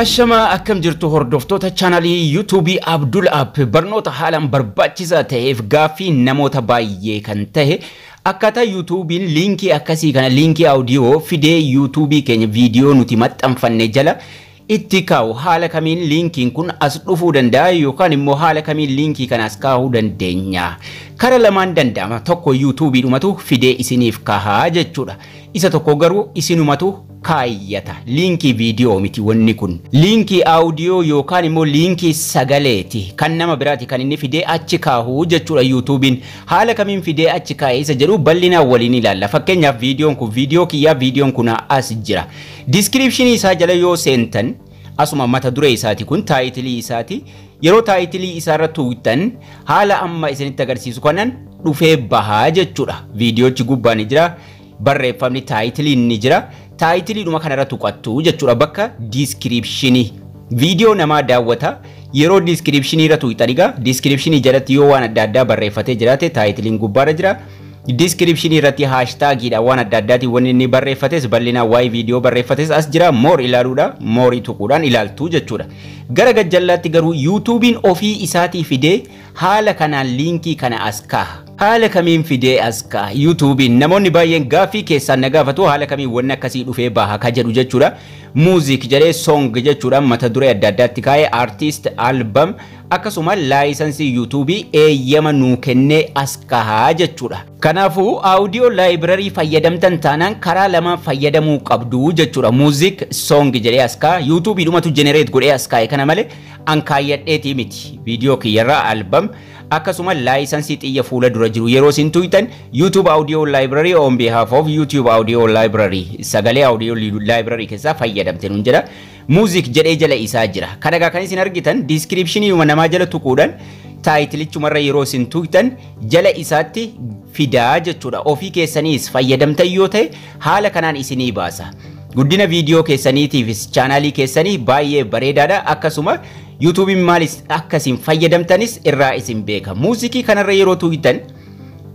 Ashamaa akkam jirtu hordoftoota chaanalii yuutuubii Abdul App barnoota haalaan barbaachisaa ta'eef gaaffii namoota baay'ee kan ta'e akkaataa yuutuubiin liinkii akkasii kana liinkii audio fidee yuutuubii keenya viidiyoo nuti maxxanfanne jala itti kaa'u haala kamiin liinkiin kun as dhufuu danda'a yookaan immoo haala kamiin liinkii kana as kaa'uu dandeenya kara lamaan danda'ama tokko yuutuubii dhumatu fidee isiniif kahaa jechuudha Isa tokko garuu isinumatu kaayyata. Liinkii viidiyoo miti wanni kun. Liinkii audio yookaan immoo liinkii sagaleeti. Kan nama biraati kan inni fidee achi kaahu jechuudha YouTube'n. Haala kamiin fidee achi kaa'e isa jedhu bal'inaan waliin ilaalla. Fakkeenyaaf viidiyoon kun viidiyoo kiyyaa viidiyoon kunaa as jira. Description isaa jala yoo seentan Asuma mata duree isaati kun taayitilii isaati. Yeroo taayitilii isaarra tuuqxan haala amma isinitti agarsiisu kanan dhufee bahaa jechuudha. Viidiyoochi gubbaa ni jira. Barreeffamni taayitiliin ni jira. Taayitiliidhuma kanarra tuqattu jechuudha bakka diiskiriipshinii. Viidiyoo namaa daawwata. Yeroo diiskiriipshinii irra tuuqxan egaa diiskiriipshinii jalatti yoo waan adda addaa barreeffatee jiraate taayitiliin gubbaarra jira. Diskiripshinii irratti haashtaagiidha waan adda addaatiin wanni inni barreeffates bal'inaan waa'ee viidiyoo barreeffates as jira moor ilaaluudha moorii tuquudhaan ilaaltuu jechuudha. Gara gajjallaatti garuu yuutuubiin ofii isaatii fidee haala kanaan liinkii kana as kaaha. Haala kamiin fidee as kaaha yuutuubiin namoonni baay'een gaaffii keessaan na gaafatu haala kamiin wanni akkasii dhufee baha ka jedhu jechuudha. Muuziik jedhee soong jechuudhaan mata duree adda addaatti kaa'ee artiist albam Akkasuma laayisansii YouTube eeyyama nuu kennee as kaha jechuudha. Kanaafuu audio library fayyadamtan taanaan karaa lamaan fayyadamuu qabdu jechuudha. Music song jedhee as kaha. YouTube dhumatu generate godhee as kaa'e kana malee an kaayyadheetii miti. Viidiyoo kiyyarraa album akkasuma laayisansii xiyya fuula dura jiru yeroo isin tuyxan YouTube audio library on behalf of YouTube audio library sagalee audio library keessaa fayyadamte nun jedha. Music jedhee jala isaa jira. Kana egaa kan isin argitan descriptioniyuma namaa jala tuquudhan taayitilichumarra yeroo isin tuqxan jala isaatti fidaa jechuudha. Ofii keessaniis fayyadamtan yoo ta'e haala kanaan isinii baasa. Guddina viidiyoo keessaniitiifis chaanaalii keessanii baay'ee bareedaadha. Akkasuma yuutuubiin maalis akka isin fayyadamtanis irraa isin beeka. Muuziqii kanarra yeroo tuqxan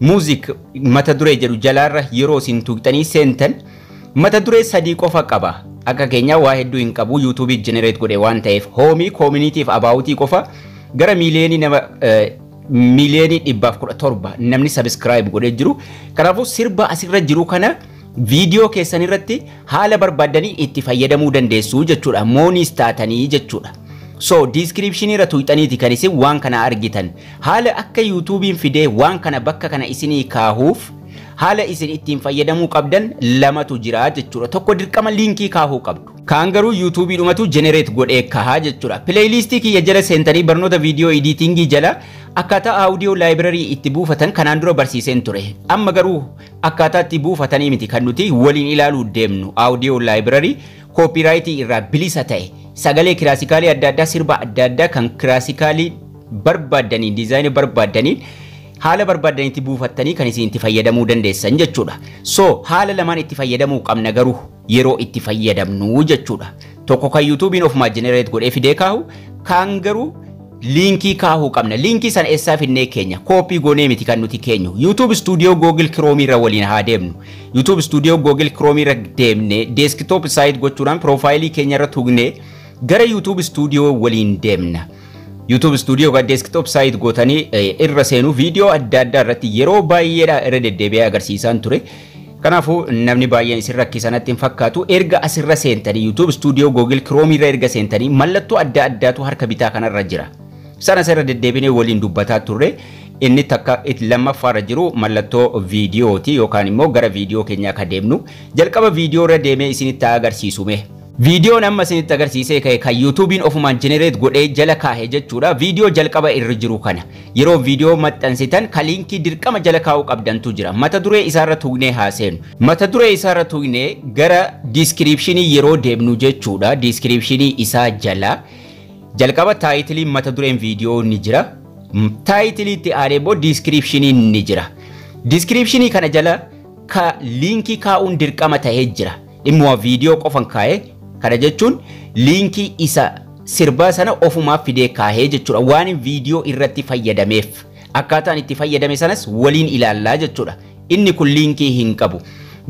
muuziq mata duree jedhu jalaarra yeroo isin tuqxanii seentan Mata duree sadii qofa qaba. Akka keenyaa waa hedduu hin qabu YouTube generate godhe waan ta'eef hoomii koominiitiif abaawutii qofa gara miiliyoonii nama miiliyoonii dhibbaaf kudha torba namni sabiskiraayib godhee jiru. Kanaafuu sirba asirra jiru kana viidiyoo keessan irratti haala barbaaddanii itti fayyadamuu dandeessu jechuudha. Mooniis taatanii jechuudha. So diiskiriipshinii irra tuqxaniiti kan isin waan kana argitan. Haala akka yuutuubiin fidee waan kana bakka kana isinii kaahuuf Haala isin ittiin fayyadamuu qabdan lamatu jira jechuudha. Tokko dirqama liinkii kaahuu qabdu. Kaan garuu YouTube dhumatu generate godhee kahaa jechuudha. Playlist kiyya jala seentanii barnoota video editingii jala akkaataa audio library itti buufatan kanaan dura barsiiseen ture. Amma garuu akkaataa itti buufatanii miti kan nuti waliin ilaaluu deemnu audio library copyright irraa bilisa ta'e sagalee kiraasikaalii adda addaa sirba adda addaa kan kiraasikaalii barbaaddaniin diizaayinii barbaaddaniin haala barbaadan itti buufattanii kan isin itti fayyadamuu dandeessan jechuudha. So haala lamaan itti fayyadamuu qabna garuu yeroo itti fayyadamnu jechuudha. Tokko kan yuutuubiin ofumaa jenereet godhee fidee kaahu kaan garuu liinkii kaahuu qabna. Liinkii sana eessaa finnee keenya? Kooppii goonee miti kan nuti keenyu. YouTube Studio Google Chrome irra waliin haa deemnu. YouTube Studio Google Chrome irra deemnee desktop site gochuudhaan piroofaayilii keenya irra tuqnee gara YouTube Studio waliin deemna. YouTube Studio ga desktop site gootanii irra seenuu viidiyoo adda addaa irratti yeroo baay'eedha irra deddeebi'ee agarsiisaan ture. Kanaafuu namni baay'een isin rakkisanatti hin fakkaatu erga asirra seentanii YouTube Studio Google Chrome irra erga seentanii mallattoo adda addaatu harka bitaa kanarra jira. Sana asirra deddeebinee waliin dubbataa turre inni takka lammaffaarra jiru mallattoo viidiyooti yookaan immoo gara viidiyoo keenyaa akka deemnu jalqaba viidiyoo irra deemee isinitti agarsiisume. Viidiyoon amma isinitti agarsiisee ka'e kan yuutuubiin ofumaan generate godhee jala kaahe jechuudha. Viidiyoo jalqaba irra jiru kana yeroo viidiyoo maxxansitan ka liinkii dirqama jala kaa'uu qabdantu jira. Mata duree isaarra tuqnee haa seenu. Mata duree isaarra tuqnee gara diiskiriipshinii yeroo deemnu jechuudha. Diiskiriipshinii isaa jala jalqaba taayitiliin mata dureen viidiyoo ni jira. Taayitilii itti aanee immoo diiskiriipshiniin ni jira. Diiskiriipshinii kana jala ka liinkii kaa'uun dirqama ta'ee jira. Dhimmuma viidiyoo qofan kaaye kana jechuun liinkii isa sirbaa sana ofumaaf fidee kaahee jechuudha waanin viidiyoo irratti fayyadameef akkaataan itti fayyadame sanas waliin ilaallaa jechuudha inni kun liinkii hin qabu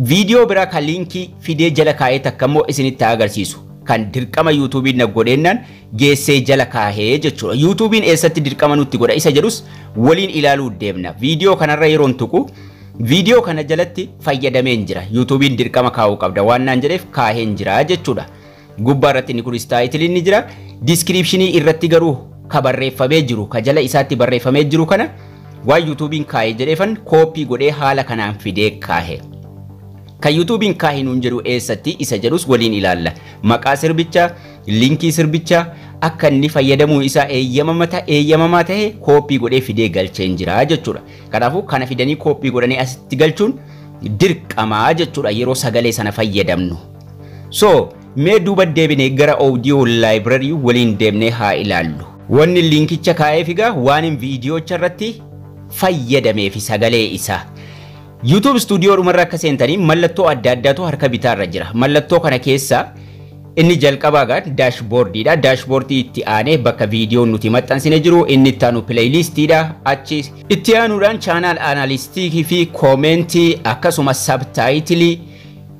viidiyoo biraa kan liinkii fidee jala kaahee takka immoo isinitti agarsiisu kan dirqama yuutuubiin na godheennaan geessee jala kaahee jechuudha yuutuubiin eessatti dirqama nutti godha isa jedhus waliin ilaaluu deemna viidiyoo kanarra yeroon tuqu Viidiyoo kana jalatti fayyadameen jira. Yuutuubiin dirqama kaa'uu qabda waan naan jedheef kaaheen jira jechuudha. Gubbaa irratti inni kunis taayitiliin ni jira. Diiskiriipshinii irratti garuu ka barreeffamee jiru ka jala isaatti barreeffamee jiru kana waan yuutuubiin kaahe jedheefan kooppii godhee haala kanaan fidee kaahe. Kan yuutuubiin kaahe nuun jedhu eessatti isa jedhus waliin ilaalla. Maqaa sirbichaa, linkii sirbichaa akka inni fayyadamuu isaa eeyyamamaa ta'e kooppii godhee fidee galcheen jira jechuudha. Kanaafuu kana fidanii kooppii godhanii asitti galchuun dirqamaa jechuudha yeroo sagalee sana fayyadamnu. So mee duuba deebinee gara audio library waliin deemnee haa ilaallu. Wanni linkicha kaa'eef egaa waanin viidiyoocha irratti fayyadameefi sagalee isaa. YouTube studio dhumarra akka seentanii mallattoo adda addaatu harka bitaarra jira. Mallattoo kana keessaa Inni jalqabaa egaa dashboard dha. Dashboard itti aanee bakka viidiyoon nuti maxxansine jiru. Inni itti aanu playlist dha. Achi itti aanuudhaan channel analytics fi comment akkasuma subtitle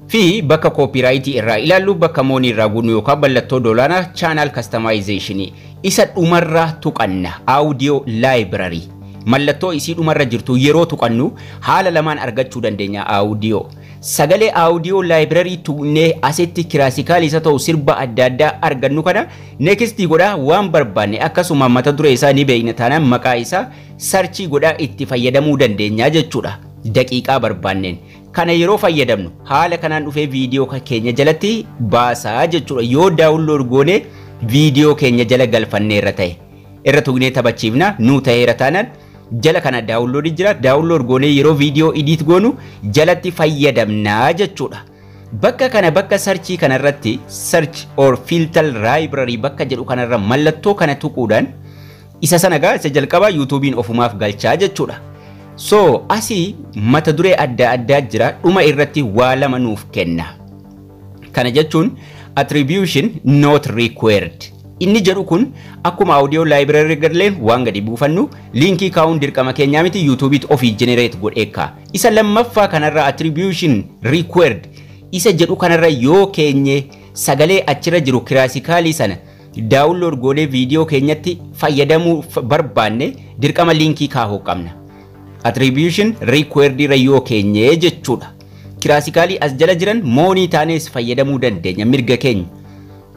fi bakka copyright irraa ilaallu bakka money irraa guunnu yookaan mallattoo doolaana channel customization isa dhumarra tuqanna audio library mallattoo isii dhumarra jirtu yeroo tuqannu haala lamaan argachuu dandeenya audio Sagalee audio library tuqnee asitti kiraasikaal isa ta'u sirba adda addaa argannu kana next godha waan barbaanne akkasuma mata duree isaa ni beekna taanaan maqaa isaa sarchii godha itti fayyadamuu dandeenya jechuudha daqiiqaa barbaanneen. Kana yeroo fayyadamnu haala kanaan dhufee viidiyoo keenya jalatti baasaa jechuudha yoo daawunlood goonee viidiyoo keenya jala galfanneerra ta'e. irra tugnee taphachiifna nuu ta'eera taanaan jala kana daawunloodii jira daawunlood goonee yeroo viidiyoo idiit goonu jalatti fayyadamnaa jechuudha. Bakka kana bakka sarchii kana irratti search or filter library bakka jedhu kanarra mallattoo kana tuquudhaan isa sana gaa isa jalqabaa yuutuubiin ofumaaf galchaa jechuudha. So asii mata duree adda addaa jira dhuma irratti waa lama nuuf kenna. Kana jechuun attribution not required. Inni jedhu kun akkuma audio library gadleen waan gadi buufannu liinkii kaa'uun dirqama keenyaa miti yuutuubiitti ofii generate godheekka. Isa lammaffaa kanarra attribution required isa jedhu kanarra yoo keenye sagalee achirra jiru kiraasikaalii sana daawunlood goonee viidiyoo keenyatti fayyadamuu barbaanne dirqama liinkii kaahuu qabna. Attribution required irra yoo keenye jechuudha. kiraasikaalii as jala jiran moonii taanees fayyadamuu dandeenya mirga keenya.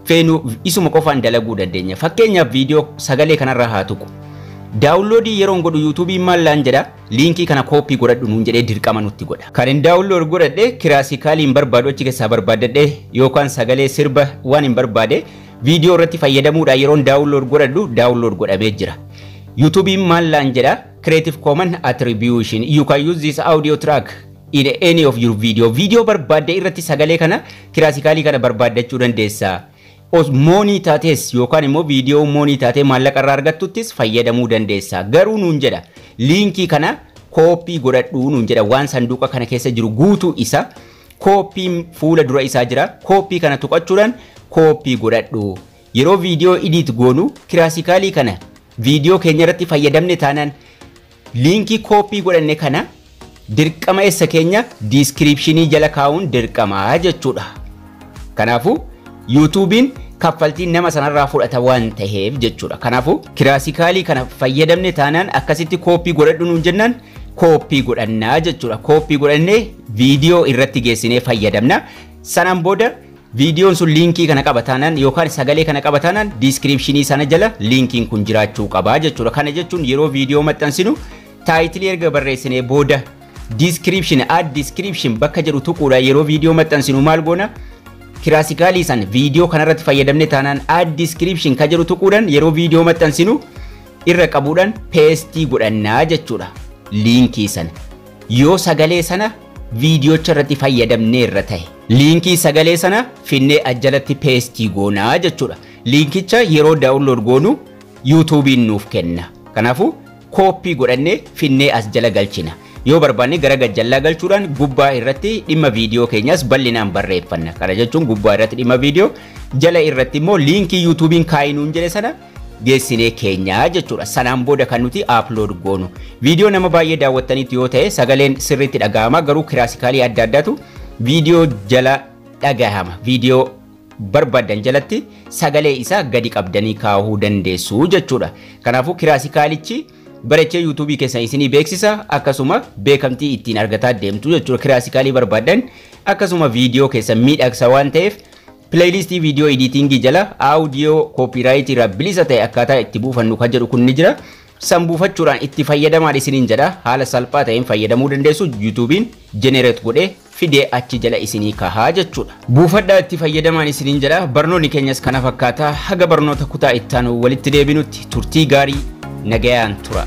Feenu isuma qofaan dalaguu dandeenya. Fakkeenyaaf viidiyoo sagalee kanarra haa tuqu. Daawunloodii yeroon godhu yuutuubiin maal laan jedha liinkii kana kooppii godhadhu nuun jedhee dirqama nutti godha. Kan hin daawunlood godhadhe kiraasikaalii hin barbaadu achi keessaa barbaaddadhe yookaan sagalee sirba waan hin barbaade viidiyoo irratti fayyadamuudhaan yeroon daawunlood godhadhu daawunlood godhamee jira. Yuutuubiin maal laan jedha Creative Commons Attribution. You can use this audio track in any of your video video barbaadde irratti sagalee kana kiraasikaalii kana barbaaddachuu dandeessa os moonii taates yookaan immoo viidiyoo moonii taatee maallaqa irraa argattuttis fayyadamuu dandeessa garuu nuun jedha liinkii kana kooppii godhadhuu nuun jedha waan sanduuqa kana keessa jiru guutuu isa kooppiin fuula dura isaa jira kooppii kana tuqachuudhaan kooppii godhadhu yeroo viidiyoo idiit goonu kiraasikaalii kana viidiyoo keenya irratti fayyadamne taanaan Liinkii kooppii godhanne kana dirqama essa keenya diiskiriipshinii jala kaa'uun dirqama jechuudha. Kanaafuu yuutuubiin kaffaltii nama sanarraa fudhata waan taheef jechuudha. Kanaafuu kiraasikaalii kana fayyadamne taanaan akkasitti kooppii godhadhu nuun jennaan kooppii godhannaa jechuudha. Kooppii godhannee viidiyoo irratti geessinee fayyadamna. Sanaan booda Viidiyoon sun liinkii kana qaba taanaan yookaan sagalee kana qaba taanaan diiskiriipshinii sana jala liinkiin kun jiraachuu qaba jechuudha. Kana jechuun yeroo viidiyoo maxxansinu taayitilii erga barreessinee booda diiskiriipshin add diiskiriipshin bakka jedhu tuquudha yeroo viidiyoo maxxansinu maal goona kiraasikaalii san viidiyoo kanarratti fayyadamne taanaan add diiskiriipshin ka jedhu tuquudhaan yeroo viidiyoo maxxansinu irra qabuudhaan peestii godhannaa jechuudha liinkii sana yoo sagalee sana viidiyoocha irratti fayyadamne irra ta'e. Liinkii sagalee sana finnee ajjalatti peestii goona jechuudha. Liinkicha yeroo daawunlood goonu yuutuubiin nuuf kenna. Kanaafuu kooppii godhannee finnee as jala galchina. Yoo barbaanne gara gajjallaa galchuudhaan gubbaa irratti dhimma viidiyoo keenyas bal'inaan barreeffanna. Kana jechuun gubbaa irratti dhimma viidiyoo jala irratti immoo liinkii yuutuubiin kaa'inuun jedhe sana geessinee keenya jechuudha. Sanaan booda kan nuti upload goonu. Viidiyoo nama baay'ee daawwattaniitu yoo ta'e sagaleen sirriitti dhagahama garuu kiraasikaalii adda addaatu viidiyoo jala dhagahama. Viidiyoo barbaadan jalatti sagalee isaa gadi qabdanii kaa'uu dandeessu jechuudha. Kanaafuu kiraasikaalichi barachee yuutuubii keessan isinii beeksisa akkasuma beekamtii ittiin argataa deemtu jechuudha. Kiraasikaalii barbaadan akkasuma viidiyoo keessan miidhagsa waan ta'eef Pileeyliistii viidiyoo ediitingii jala aawudiyoo kooppiiraayitii irraa bilisa ta'e akkaataa itti buufannu kan jedhu kun ni jira. San buufachuudhaan itti fayyadamaa isiniin jedha. Haala salphaa ta'een fayyadamuu dandeessu yuutuubiin jenereet godhee fidee achi jala isinii kahaa jechuudha. Buufadhaa itti fayyadamaan isiniin jedha. Barnoonni keenyas kana fakkaata. Haga barnoota kutaa ittaanu walitti deebinutti turtii gaarii nagayaan tura.